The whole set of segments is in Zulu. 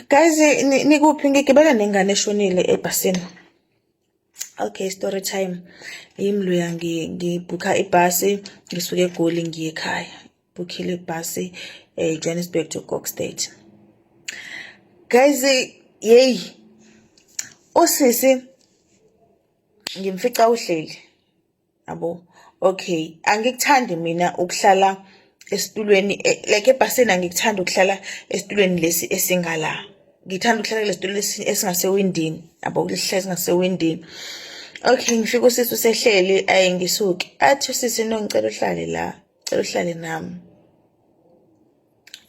Guys, nikuphi ngigibele nengane eshonile ebhasini. Okay, story time. Imluya ngibhukha ibhasi ngisuke eGoli ngiye ekhaya. Bhukhile ibhasi eh Johannesburg to Cox State. Guys, yey. Osisi ngimfica uhleli. yabo okay angikuthandi mina ukuhlala esitulweni eh, like ebhasini angikuthandi ukuhlala esitulweni lesi esingala ngithanda ukuhlala kulesitulo esingasewindini yabo kulihlala esingasewindini okay ngifika usisi usehleli ayi ngisuke athi usisi no ngicela uhlale la cela uhlale nami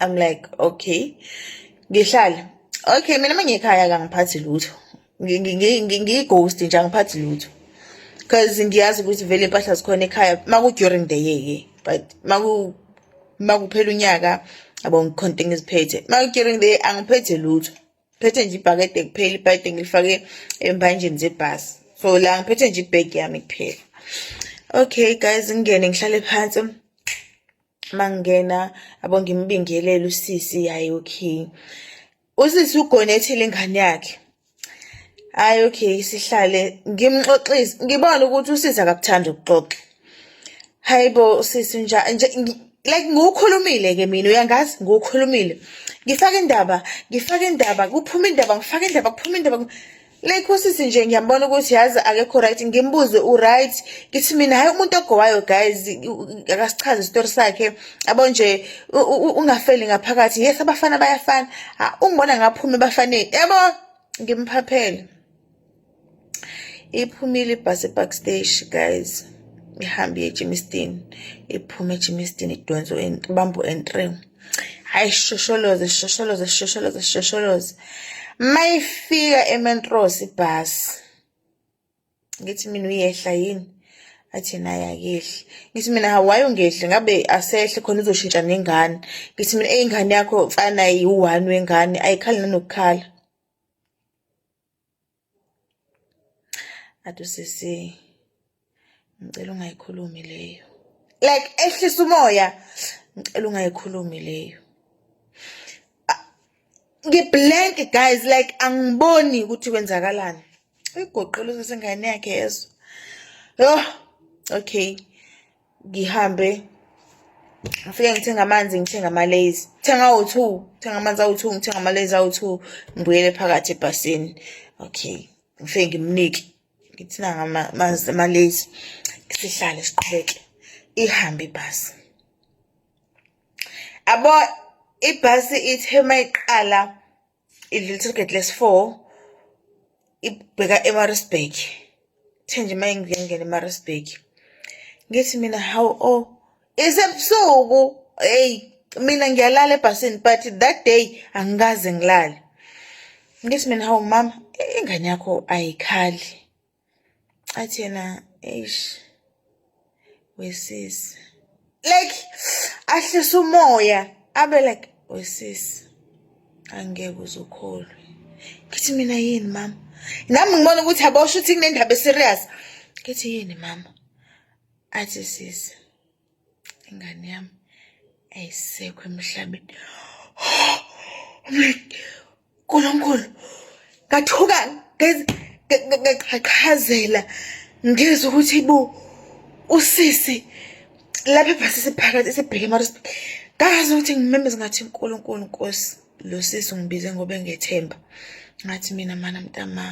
I'm like okay ngihlala okay mina mangikhaya kangiphathi lutho ngiyighost nje angiphathi lutho because ngiyazi ukuthi vele impahla zikhona ekhaya maku-during the year ke but makuphela unyaka abo ngikhonto engiziphethe maku-during the year angiphethe lutho phethe nje ibhakede kuphela ibhakede ngilifake embanjeni zebhasi so la ngiphethe nje ibhegi yami kuphela okay guys ngingene ngihlale phansi mangingena abo ngimbingelele usisi yayi okay usisi ugonethile ingane yakhe hayi okay sihlale ngimxoxise ngibona ukuthi usisi akakuthanda ukuxoxa hayibo usisi nje like ngiwukhulumile ke mina uyangazi ngiwukhulumile ngifake indaba ngifake indaba kuphuma indaba ngifake indaba kuphuma indaba like usisi nje ngiyambona ukuthi yazi akekho right ngimbuze uright ngithi mina hhayi umuntu ogowayo guys akasichaze isitori sakhe abo nje ungafeli ngaphakathi yes abafana bayafana ungibona ngaphume ebafaneni yabo ngimphaphele iphumile ibhasi epark stage guys ihambe iye ejimistin iphume ejimistin idonso bambo entry hayi shosholoze shosholoze shosholoze shosholoze mayifika ementros ibhasi ngithi mina uyehla yini athi naye akehli ngithi mina hawayi ungehli ngabe asehle khona uzoshintsha nengane ngithi mina eyingane yakho mfana yiwu-one wengane ayikhali nanokukhala athi usisi ngicela ungayikhulumi leyo like ehlisa umoya ngicela ungayikhulumi leyo ngiblank guys like angiboni ukuthi kwenzakalani uyigoqela usesengane yakhe yezo yho okay ngihambe ngifike ngithenga amanzi ngithenga amalazy thenga awu-two thenga amanzi awu-two ngithenga amalazy awu-two ngibuyele phakathi ebhasini okay ngifike ngimnike ngithi nanga amalazy sihlale siqhubeke ihambe ibhasi abo ibhasi ithe mayiqala i-little gate lesi-four ibheka emarisburg kuthe nje uma ngingena emarisburg ngithi mina how o oh, isebusuku eyi mina ngiyalala ebhasini but that day angikaze ngilale ngithi mina hawu mama ingane yakho ayikhali athi yena eish wesisi like ahlisa umoya abe like wesisi angeke uzukholwe ngithi mina yini mama nami ngibona ukuthi abosho ukuthi kunendaba eserious ngithi yini mama athi sisi ingane yami ayisekho emhlabeni uNkulunkulu ngathuka ngaqhaqhazela ngizwe ukuthi bo usisi lapha ebhasi siphakathi sibheke emarosbi ngazi ukuthi ngimemeze ngathi uNkulunkulu Nkosi lo sisi ungibize ngoba engethemba ngathi mina mana mntama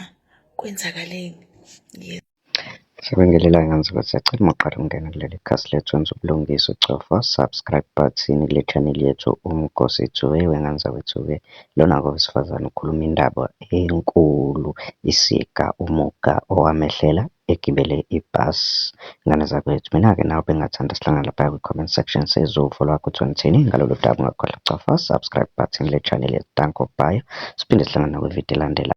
kwenzakaleni Sibingelele ngenze ukuthi sacela uma uqala ukungena kuleli khasi lethu wenze ubulungiswa ucofa subscribe button kule channel yethu uMgosi Dube wengane wethu-ke lona-ke owesifazane ukhuluma indaba enkulu isika umuga owamehlela egibele ibhasi. Ngane zakwethu mina-ke nawe bengingathanda sihlangane lapha kwi-comment section sizwe uvo lwakho ukuthi ngithini ngalolu daba ungakhohlwa ukucofa subscribe button kule channel yethu danko bye siphinde sihlangane nakwividiyo elandelayo.